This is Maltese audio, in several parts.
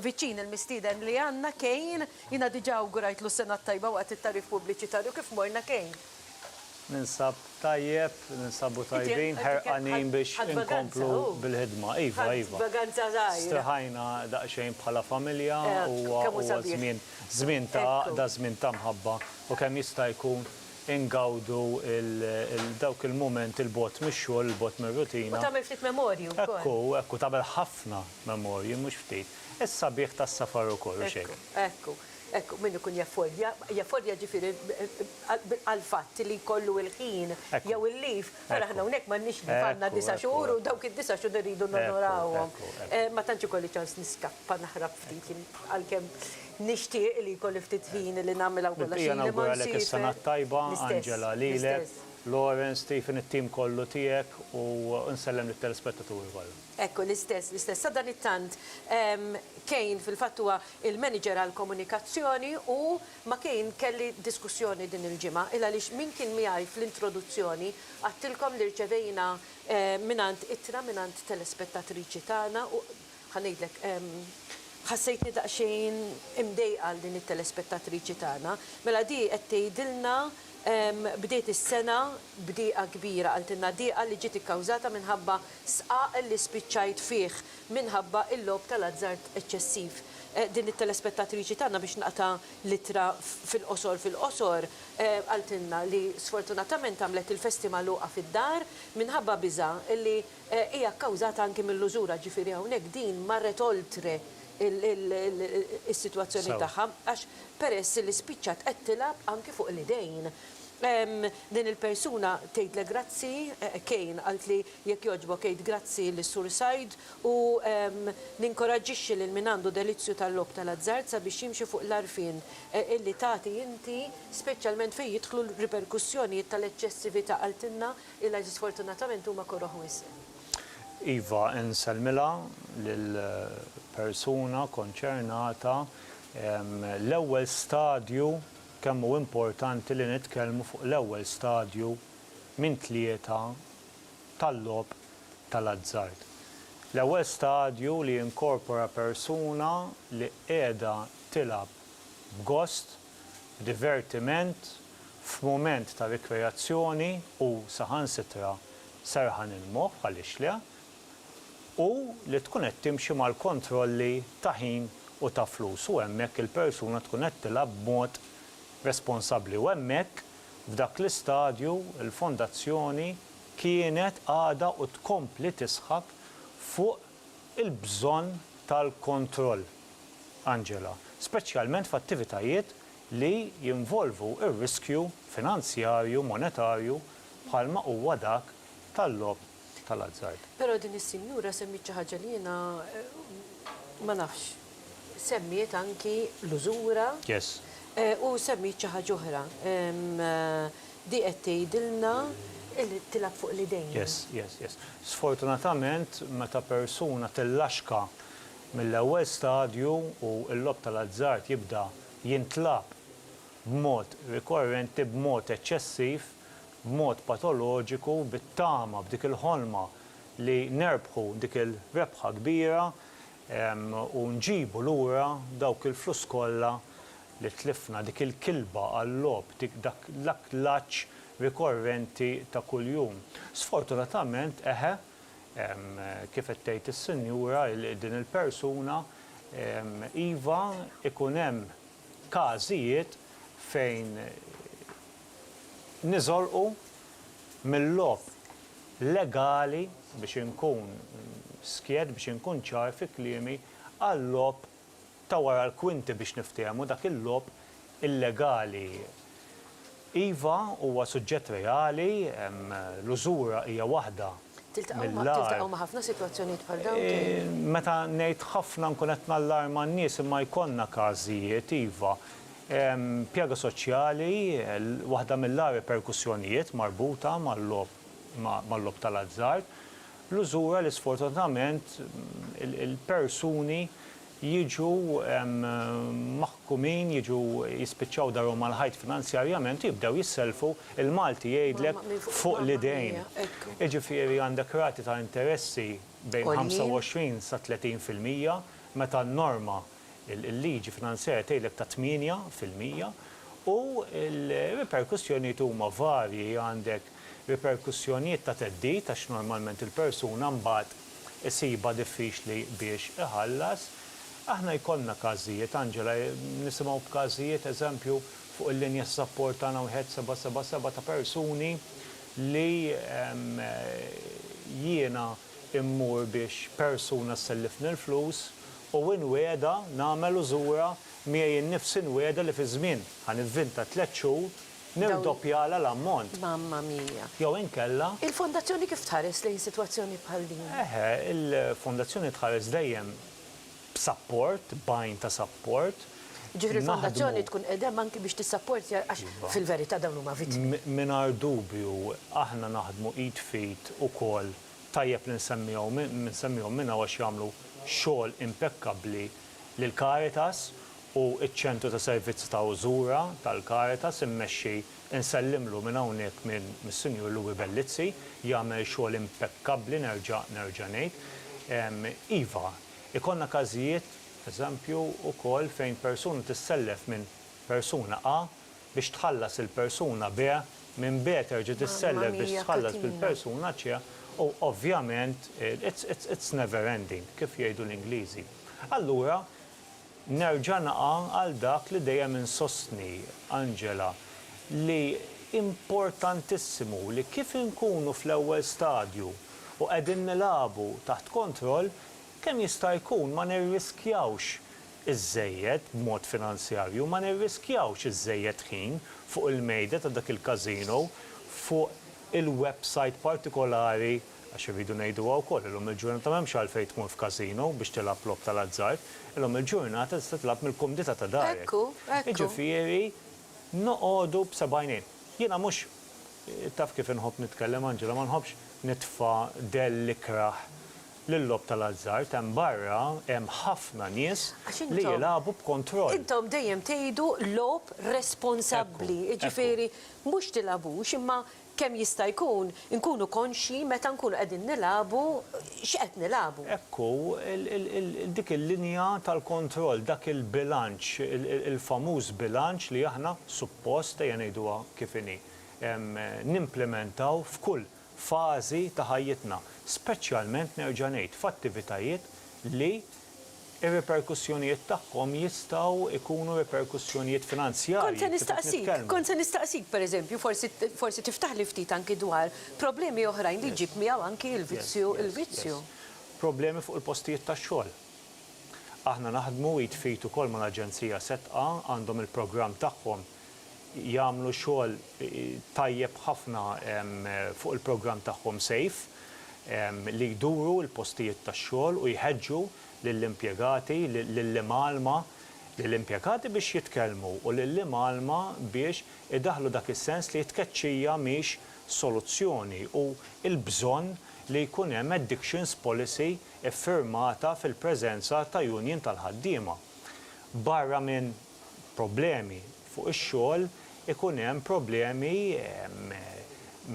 viċin il-mistieden li għandna Kane. Jiena diġà awgurajtlu s-sena t-tajba waqt it-tagħrif pubbliċitarju kif morna Kane? Ninsab tajjeb, ninsabu tajbin, ħerqanin biex inkomplu bil-ħidma. Iva, iva. Ħadt vaganza żgħira. Straħajna daqsxejn bħala familja u huwa żmien, żmien ta' għaqda, żmien ta' mħabba u kemm jista' jkun ingawdu dawk il-mumenti 'l bogħod mix-xogħol, 'l bogħod mir-rutina. U tagħmel ftit memorji wkoll. Hekk hu, hekk hu, tagħmel ħafna, Memorji, mhux ftit. Is-sabiħ tas-safar ukoll, hux hekk? Ekku, ekku, min ikun jaffordja, jaffordja ġifieri għall-fatt li jkollu l-ħin jew il-leave, ara aħna hawnhekk m'għandniex leave, għandna disa' xhur u dawk id-disa' xhur irridu nonorawhom. Ma tantx ikolli ċans niskappa naħrab ftit, għalkemm nixtieq li jkolli ftit ħin li nagħmilha wkoll għax ili ma nsifer. L-istess, l-istess. Lawrence, Stephen, it-tim kollu tiegħek u nsellem lit-telespettaturi kollha. Hekk, l-istess, l-istess. Sadanittant, Kane fil-fatt huwa l-manager għall-komunikazzjoni u ma' Kane kelli diskussjoni din il-ġimgħa. Il għaliex min kien miegħi fl-introduzzjoni għedtilkom li rċevejna mingħand ittra mingħand telespettatriċi tagħna u ħa ngħidlek, ħassejtni daqsxejn imdejqa għal din it-telespettatriċi tagħna. Mela di qed tgħidilna bdiet is-sena b'dieqa kbira, qaltilna dieqa li ġiet ikkawżata minħabba sqaq li spiċċajt fih minħabba l-logħob tal-azzard eċċessiv. Din it-telespettatriċi tagħna biex naqta' l-ittra fil-qosor fil-qosor, qaltilna li sfortunatament għamlet il-festi magħluqa fid-dar minħabba biża' li hija kkawżata anki mill-użura, ġifieri hawnhekk din marret oltre is-sitwazzjoni tagħha għax peress li spiċċat qed tilgħab anki fuq l-idejn. Din il-persuna tgħidlek grazzi, Cain, qaltli jekk jogħġbok għid grazzi lis-Sur Said u ninkoraġġixxi lil min għandu delizzju tal-logħob tal-azzard sabiex jimxi fuq l-għarfien li tagħti inti, speċjalment fejn jidħlu l-riperkussjonijiet tal-eċċessività, qaltilna ilha li sfortunatament huma koroh wisq. Iva, insellmilha lill-persuna konċernata, l-ewwel stadju Kemm hu importanti li nitkellmu fuq l-ewwel stadju minn tlieta tal-logħob tal-azzard. L-ewwel stadju li jinkorpora persuna li qiegħda tilgħab b'gost, b'divertiment, f'mument ta' rikreazzjoni u saħansitra serħan il-moħħ, għaliex le, u li tkun qed timxi mal-kontrolli ta' ħin u ta' flus u hemmhekk il-persuna tkun qed tilgħab b'mod responsabbli u hemmhekk f'dak l-istadju l-fondazzjoni kienet għadha u tkompli tisħaq fuq il-bżonn tal-kontroll Angela speċjalment f'attivitajiet li jinvolvu r-riskju finanzjarju monetarju bħalma huwa dak tal-logħob tal-azzard. Però din is-sinjura semmiet xi ħaġa li jiena ma nafx. Semmiet anki l-użura. Yes. U semmiet xi ħaġa oħra. Di qed tgħidilna li tilgħab fuq l-idejn. Yes, yes, yes. Sfortunatament meta persuna tillaxka mill-ewwel stadju u l-logħob tal-azzard jibda jintlagħab b'mod rikorrenti, b'mod eċċessiv, b'mod patoloġiku bit-tama, b'dik il-ħolma li nerbħu dik il-rebħa kbira u nġibu lura dawk il-flus kollha li tlifna, dik il-kilba għal-logħob, dak l-aklaġġ rikorrenti ta' kuljum. Sfortunatament, eħe, kif qed tgħid is-sinjura, din il-persuna, iva, ikun hemm każijiet fejn niżolqu mil-logħob legali, biex inkun skiet, biex inkun ċar fi kliemi, għal-logħob ta' wara l-kwinti biex niftehmu, dak il-logħob illegali. Iva, huwa suġġett reali, l-użura hija waħda mill-agħar. Meta ngħid ħafna nkun qed nallarma n-nies imma jkollna każijiet, iva. Pjaga soċjali, waħda mill-agħar riperkussjonijiet marbuta mal-logħob tal-azzard, l-użura li sfortunatament il-persuni jiġu maħkumin, jiġu jispiċċaw darhom mal-ħajt finanzjarjament u jibdew jissellfu, il-Malti jgħidlek fuq l-idejn. Jiġifieri għandek rati ta' interessi bejn 25 sa 30 fil-mija meta n-norma, Il-liġi finanzjarja tgħidlek ta' tmienja fil-mija u l-riperkussjonijiet huma varji, għandek riperkussjonijiet ta' theddid għax normalment il-persuna mbagħad isibha diffiċli biex iħallas. Aħna jkollna każijiet, Angela, nisimgħu b'każijiet, eżempju, fuq il-linja ta' sapport tagħna wieħed seba' seba' seba' ta' persuni li jiena, immur biex persuna ssellifni l-flus u inwiegħedha nagħmel u żurha miegħi nnifsi nwiegħedha li fi żmien, ħa nivvinta, tliet xhur nirdoppjalha l-ammont. Mamma mia! Jew inkella. Il-Fondazzjoni kif tħares lejn sitwazzjoni bħal din? Eħe, il-Fondazzjoni tħares dejjem b'sapport, b'għajn ta' sapport. Jiġifieri l-fondazzjoni tkun qiegħda hemm anki biex tissapportja għax fil-verità dawn huma vittmi. Mingħajr dubju aħna naħdmu id f'id ukoll, tajjeb li nsemmihom minn hawn għax jagħmlu xogħol impekkabbli lil Caritas u ċ-Ċentru ta' Servizzi ta' Użura tal-Caritas immexxi, insellimlu minn hawnhekk mis-Sinjur Louie Bellizzi, jagħmel xogħol impekkabbli nerġa' nerġa' ngħid. Iva, Ikollna każijiet, eżempju, ukoll fejn persuna tissellef minn persuna A biex tħallas il-persuna B, minn B terġa' tissellef biex tħallas lill-persuna C u ovvjament it's never ending, kif jgħidu l-Ingliżi. Allura, Nerġa' naqa' għal dak li dejjem insostni, Angela, li importantissimu li kif inkunu fl-ewwel stadju u qegħdin nilagħbu taħt kontroll, kemm jista' jkun ma nirriskjawx iżżejjed b'mod finanzjarju, ma nirriskjawx iżżejjed ħin fuq il-mejda ta' dak il-casino, fuq il-websajt partikolari, Għax irridu ngħiduha wkoll, illum il-ġurnata m'hemmx għalfejn tmur f'casino biex tilgħab logħob tal-azzard, illum il-ġurnata tista' tilgħab mill-kumdità ta' darek. Jiġifieri noqogħdu b'seb'għajnejn. Jiena mhux, taf kif inħobb nitkellem Angela, ma nħobbx nitfa' dell ikrah lil-logħob tal-azzard, hemm barra hemm ħafna nies li jilagħbu b'kontroll. Intom dejjem tgħidu logħob responsabbli, jiġifieri mhux tilgħabux imma Kemm jista' jkun inkunu konxji meta nkunu qegħdin nilagħbu x'qed nilagħbu. Hekk hu, dik il-linja tal-kontroll, dak il-bilanċ, il-famuż bilanċ li aħna suppost, ejja ngħiduha kif inhi, nimplimentaw f'kull fażi ta' ħajjitna, speċjalment nerġa' ngħid f'attivitajiet li ir-riperkussjonijiet tagħhom jistgħu jkunu riperkussjonijiet finanzjarji, kif qed nitkellmu. Kont se nistaqsik, kont se nistaqsik, per eżempju, forsi, forsi tiftaħli ftit anki dwar problemi oħrajn li jġib miegħu anki il-vizzju, il-vizzju. Problemi fuq il-postijiet tax-xogħol. Aħna naħdmu id f'id ukoll mal-Aġenzija SETQA, għandhom il-programm tagħhom jagħmlu xogħol tajjeb ħafna fuq il-programm tagħhom Safe li jduru l-postijiet tax-xogħol u jħeġġu lill-impjegati, lill-imgħallma, lill-impjegati biex jitkellmu u lill-imgħallma biex idaħħlu dak is-sens li t-tkeċċija mhix soluzzjoni u l-bżonn li jkun hemm addictions policy iffirmata fil-preżenza ta' union tal-ħaddiema. Barra minn problemi fuq ix-xogħol ikun hemm problemi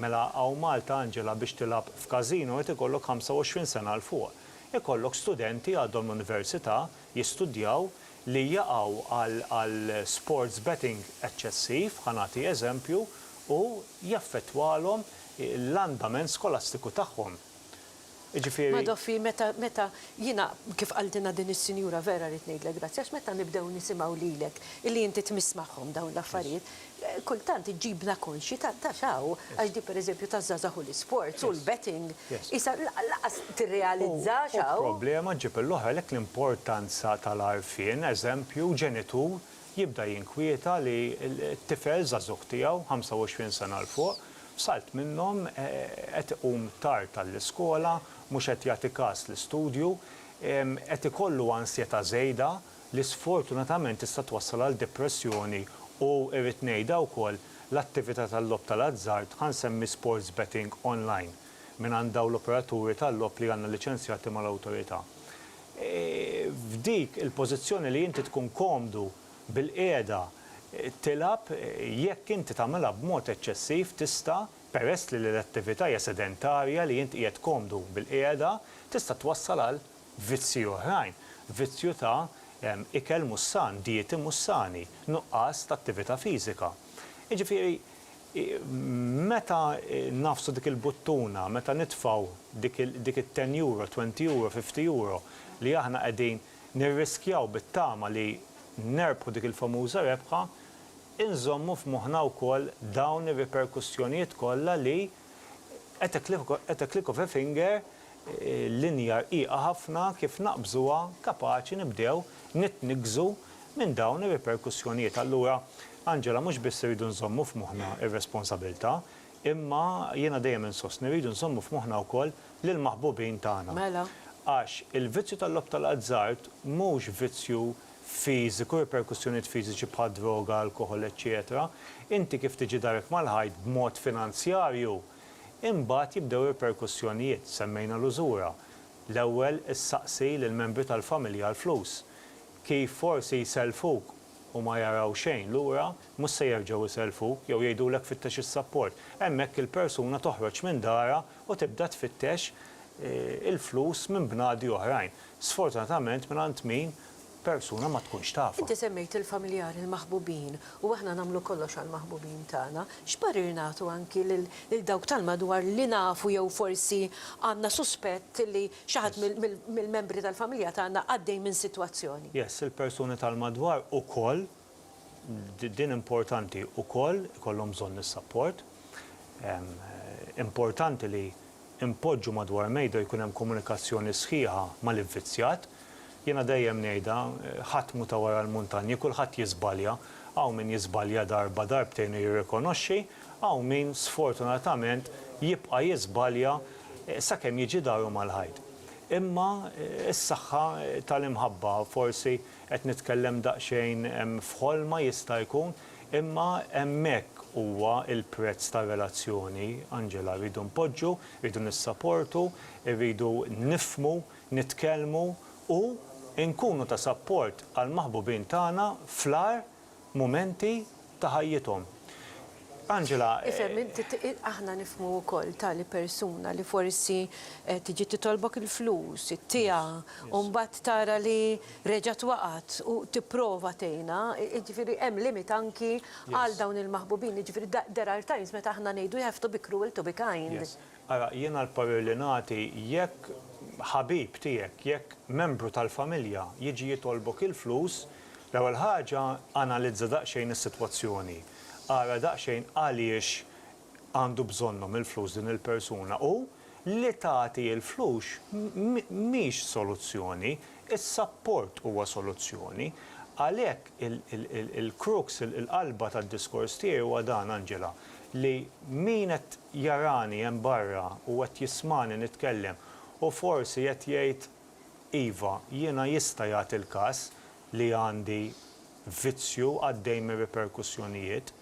mela hawn Malta Angela biex tilgħab f'casino irid ikollok 25 sena 'l fuq. Ikollok studenti għadhom l-università jistudjaw li jaqgħu għal sports betting eċċessiv, ħa nagħti eżempju, u jaffettwalhom l-andament skolastiku tagħhom. Jiġifieri. Madoffi meta meta jiena kif qaltilna din is-sinjura vera rrid ngħidlek grazzi għax meta nibdew nisimgħu lilek illi inti tmiss magħhom dawn l-affarijiet kultant iġġibna konxji ta' ta' x'hawn għax din pereżempju taż-żgħażagħ u l-isports u l-betting qisha lanqas tirrealizza x'hawn. U problema ġġib l-oħra għalhekk l-importanza tal-għarfien, eżempju, ġenitur jibda jinkwieta li t-tifel żagħżugħ tiegħu, 25 sena 'l fuq, f'salt minnhom qed iqum tard għall-iskola, mhux qed jagħti kas l-istudju, qed ikollu ansjetà żejda li sfortunatament tista' twassal għal depressjoni u, irrid ngħidha wkoll, l-attività tal-logħob tal-azzard, ħa nsemmi sports betting online, mingħand dawn l-operaturi tal-logħob li għandna liċenzjati mal-Awtorità. f'dik il-pożizzjoni li inti tkun komdu bil-qiegħda tilgħab, jekk inti tagħmilha b'mod eċċessiv tista', peress li l-attività hija sedentarja li int qiegħed komdu bil-qiegħda, tista' twassal għal vizzji oħrajn, vizzju ta' ikel mhux san, dieti mhux sani, nuqqas ta' attività fiżika. Jiġifieri Meta ngħafsu dik il-buttuna, meta nitfgħu dik it-ten euro, twenty euro, fifty euro li aħna qegħdin nirriskjaw bit-tama li nerbħu dik il-famuża rebħa, inżommu f'moħħna wkoll dawn ir-riperkussjonijiet kollha li at a click of a finger, Linja rqiqa ħafna kif naqbżuha kapaċi nibdew nitniggżu minn dawn ir-riperkussjonijiet. Allura, Angela, mhux biss irridu nżommu f'moħħna r-responsabilità, imma jiena dejjem insostni rridu nżommu f'moħħna wkoll lill-maħbubin tagħna. Mela? Għax il-vizzju tal-logħob tal-azzard mhux vizzju fiżiku, riperkussjonijiet fiżiċi bħad-droga, alkoħol, eċċetera. Inti kif tiġi darek mal-ħajt b'mod finanzjarju, Imbagħad jibdew ir-riperkussjonijiet, semmejna l-użura. L-ewwel issaqsi lill-membri tal-familja għall-flus. Kif forsi jsellfuk u ma jaraw xejn lura, mhux se jerġgħu jsellfuk jew jgħidulek fittex is-sapport. Hemmhekk il-persuna toħroġ minn darha u tibda tfittex il-flus minn bnadi oħrajn. Sfortunatament mingħand min persuna ma tkunx tafha. Inti semmejt il-familjari, il-maħbubin, u aħna nagħmlu kollox għall-maħbubin tagħna. X'parir nagħtu anki lil dawk tal-madwar li nafu jew forsi għandna suspett li xi ħadd mill-membri tal-familja tagħna għaddej minn sitwazzjoni? Yes, il-persuni tal-madwar ukoll Din importanti ukoll ikollhom bżonn is-sapport. Importanti li npoġġu madwar mejda u jkun hemm komunikazzjoni sħiħa mal-ivvizzjat. Jiena dejjem ngħidha, ħadd mhu ta' wara l-muntanji, kulħadd jiżbalja. Hawn min jiżbalja darba, darbtejn u jirrikonoxxi, hawn min sfortunatament jibqa' jiżbalja sakemm jiġi daru mal-ħajt. Imma s-saħħa tal-imħabba forsi Qed nitkellem daqsxejn f'ħolma jista' jkun, imma hemmhekk huwa l-prezz tar-relazzjoni, Angela. Rridu npoġġu, rridu nissaportu, irridu nifhmu, nitkellmu u nkunu ta' sapport għall-maħbubin tagħna fl-agħar mumenti ta' ħajjithom. Angela. Ifhem inti, aħna nifhmu wkoll tali persuna li forsi tiġi titolbok il-flus, ittiha, u mbagħad tara li reġgħet waqgħet u tipprova tgħinha, jiġifieri hemm limit anki għal dawn il-maħbubin, jiġifieri there are times meta aħna ngħidu you have to be cruel to be kind. Yes. Ara, jiena l-parir li nagħti jekk ħabib tiegħek, jekk membru tal-familja jiġi jitolbok il-flus, L-ewwel ħaġa, analizza daqsxejn is-sitwazzjoni. Ara daqsxejn għaliex għandu bżonnhom il-flus din il-persuna u li tagħti il-flux mhix soluzzjoni, is-sapport huwa soluzzjoni. Għalhekk il-crux, il-qalba tad-diskors tiegħi huwa dan, Angela, li min qed jarani hemm barra u qed jismagħni nitkellem u forsi qed jgħid Iva, jiena jista' jagħti l-każ li għandi vizzju għaddej minn riperkussjonijiet.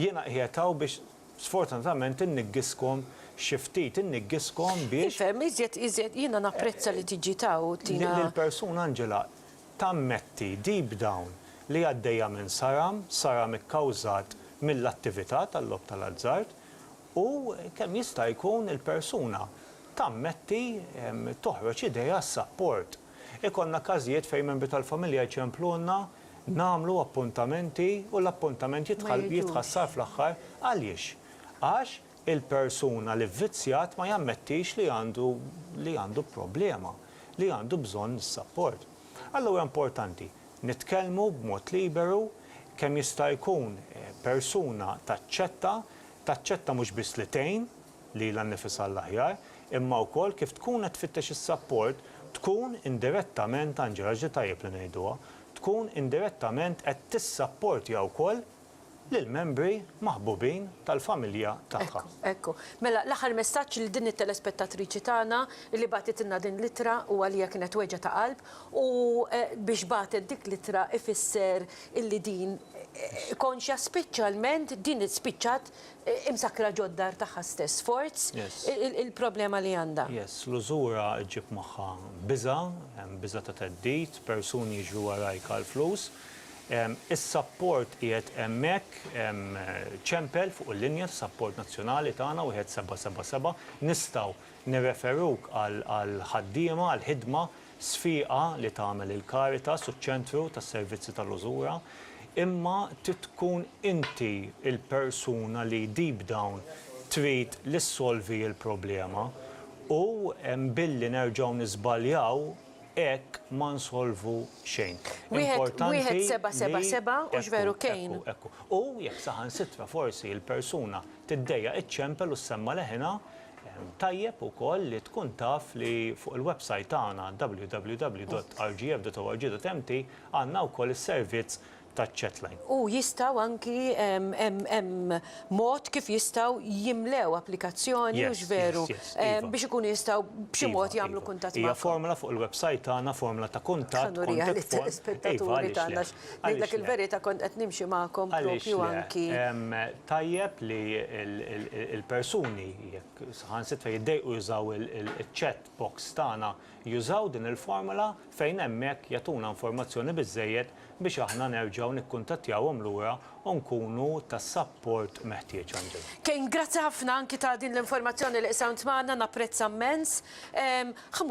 Jiena qiegħed hawn biex sfortunatament inniggiskom xi ftit, inniggiskom biex. Nifhem, iżjed, iżjed, jiena napprezza li tiġi ta' u tina. Li l-persuna, Angela, tammetti deep down li għaddejja minn saram, saram ikkawżat mill-attività tal-logħob tal-azzard u kemm jista' jkun il-persuna Tammetti, toħroġ idea, sapport. Ikollna każijiet fejn membri tal-familja jċemplulna, nagħmlu appuntamenti u l-appuntament jitħassar fl-aħħar. Għaliex? Għax il-persuna li vvizzjat ma jammettix li għandu li għandu problema, li għandu bżonn is-sapport. Allura importanti, nitkellmu b'mod liberu, kemm jista' jkun persuna taċċetta, taċċetta mhux biss li tgħin, lilha nnifisha għall-aħjar, imma wkoll kif tkun qed tfittex is-sapport, tkun indirettament, Angela ġri tajjeb li ngħiduha, tkun indirettament qed tissapportja wkoll lill-membri maħbubin tal-familja tagħha. Ekku, ekku. Mela, l-aħħar messaġġ lil din it-telespettatriċi tagħna li bagħtitilna din l-ittra u għaliha kienet weġgħa ta' qalb u biex bagħtet dik l-ittra ifisser illi din konxja speċjalment din spiċċat Imsakkra ġod-dar tagħha stess. Forz il-problema li għandha. Yes, l-użura ġġib magħha biża', hemm biża' ta' theddid, persuni jiġru warajk għall-flus. Is-sapport qiegħed hemmhekk, hemm ċempel fuq il-linja tas-sapport nazzjonali tagħna, wieħed seba' seba' seba'. Nistgħu nirreferuk għall-ħaddiema, għall-ħidma. sfiqa li tagħmel il-Caritas u ċ-Ċentru tas-Servizzi tal-Użura, imma trid tkun inti l-persuna li deep down trid li ssolvi l-problema u billi nerġgħu niżbaljaw hekk ma nsolvu xejn. Importanti li. Wieħed seba' seba' seba' hux veru kejn? Ekku, ekku. U jekk saħansitra forsi l-persuna tiddejjaq iċċempel u ssemma' leħinha, Tajjeb ukoll li tkun taf li fuq il-websajt tagħna www.rgf.org.mt għandna wkoll is-servizz taċ-chatline. U jistgħu anki hemm mod kif jistgħu jimlew applikazzjoni, hux veru, biex ikunu jistgħu b'xi mod jagħmlu kuntatt magħkom. Hija formola fuq il-websajt tagħna, formola ta' kuntatt, contact form. Ħa nuriha lill-ispettaturi tagħna. Ngħidlek il-verita kont qed nimxi magħkom propju anki. Għaliex le? Tajjeb li l-persuni jekk saħansitra jiddejqu jużaw il-chat box tagħna jużaw din il-formola fejn hemmhekk jagħtuna informazzjoni biżżejjed biex aħna nerġgħu nikkuntattjawhom lura u nkunu tas-sapport meħtieġ Angela. Kane grazzi ħafna anki ta' din l-informazzjoni li qsamt magħna napprezza mmens. Ħa mmur